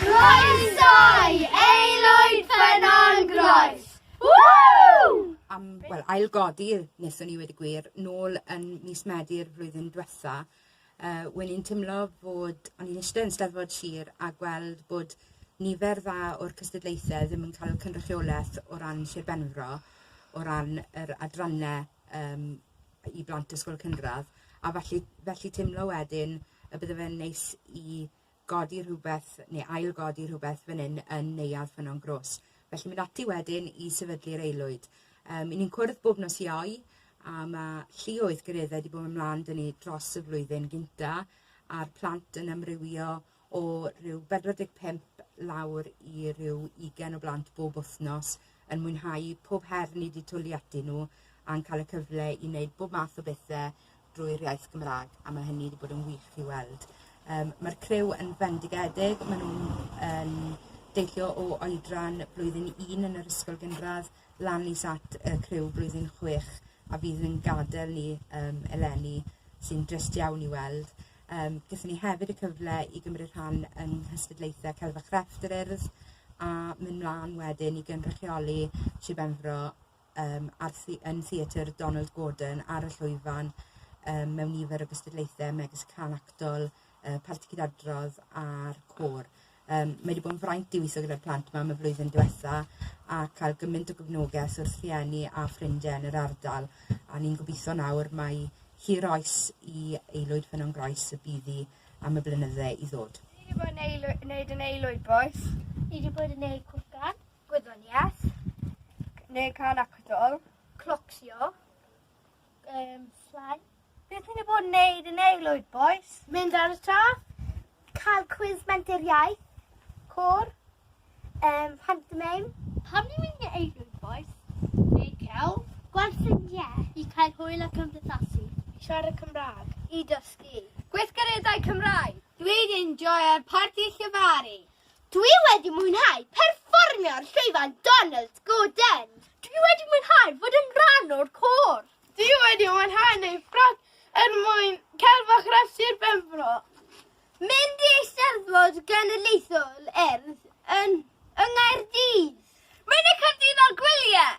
Croeso i Aelwyd Ffynnon Groes! Woo! Am, wel, ailgodi, neswn ni wedi gwir, nôl yn mis Medi'r flwyddyn diwetha, uh, wen i'n teimlo fod, o'n i'n eistedd yn steddfod sir a gweld bod nifer dda o'r cystadlaethau ddim yn cael cynrychiolaeth o ran Sir Benfro, o ran yr adrannau um, i blant ysgol cynradd, a felly, felly teimlo wedyn y bydde fe'n neis i godi rhywbeth neu ail-godi rhywbeth fan hyn yn Neuadd Ffynnon Gros. Felly mynd ati wedyn i sefydlu'r aelwyd. Um, I ni'n cwrdd bob nos iau, a mae llioedd gyreddau wedi bod yn mlaen dyn ni dros y flwyddyn gynta, a'r plant yn amrywio o rhyw 45 lawr i rhyw 20 o blant bob wythnos yn mwynhau pob her ni wedi twli ati nhw a'n cael y cyfle i wneud bob math o bethau drwy'r iaith Gymraeg a mae hynny wedi bod yn wych i weld. Um, Mae'r criw yn fendigedig, maen nhw'n um, deillio o oedran blwyddyn 1 yn yr ysgol gynradd lan is at y criw blwyddyn 6 a fydd yn gadael ni um, eleni sy'n drist iawn i weld. Um, Gyda ni hefyd y cyfle i gymryd rhan yng nghystadlaethau Celfa Crefft yr Urdd a mynd mlaen wedyn i gynrychioli Sir Benfro um, ar thi yn Theatr Donald Gordon ar y llwyfan um, mewn nifer o gystadlaethau megis can actol, uh, parti cydadrodd a'r côr. Um, mae wedi bod yn fraint i weithio gyda'r plant yma am y flwyddyn diwetha a cael gymaint o gyfnogaeth wrth rhieni a ffrindiau yn yr ardal a ni'n gobeithio nawr mae hir oes i aelwyd ffynon groes y byddi am y blynydde i ddod. Ni wedi bod yn aelwyd, wneud yn aelwyd boes. Ni wedi bod yn neud cwrcan. gwyddoniaeth, neu cael acadol, clocsio, um, llai. Beth ni'n bod yn neud yn ei lwyd, boys? Mynd ar y tra, cael cwiz menter iaith, cwr, um, pantomeim. Pam ni'n mynd yn ei lwyd, boys? Neu cael? Gweld ffrindiau. I cael hwyl ac ymdeithasu. I siarad Cymraeg. I dysgu. Gweithgareddau Cymraeg. Dwi'n enjoy ar parti llefaru. Dwi wedi mwynhau perfformio ar llwyfan Donald Gordon. Dwi wedi mwynhau fod yn rhan o'r côr. Dwi wedi mwynhau neud ffrog er mwyn celfa Chrefft Sir Benfro. Mynd i Eisteddfod Genedlaethol Urdd yn yng Nghaerdydd. Mynd i Caerdydd ar gwyliau!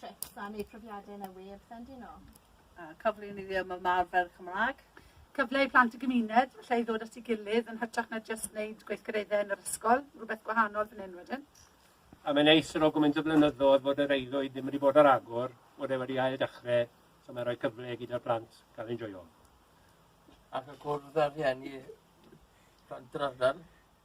trips a neu profiade yn y we a pethe'n dyn o? A cyfle i ni ddim yn arfer Cymraeg. Cyfle i plant y gymuned, lle i ddod at ei gilydd yn hytrach na just wneud gweithgareddau yn yr ysgol, rhywbeth gwahanol fan hyn wedyn. A mae'n neis yn o gymaint o flynyddoedd fod yr eiddwyd ddim wedi bod ar agor, bod e wedi ail dechrau, so mae'n rhoi cyfle gyda'r plant cael enjoyo. Ac y cwrdd â'r rhieni, plant yr ardal.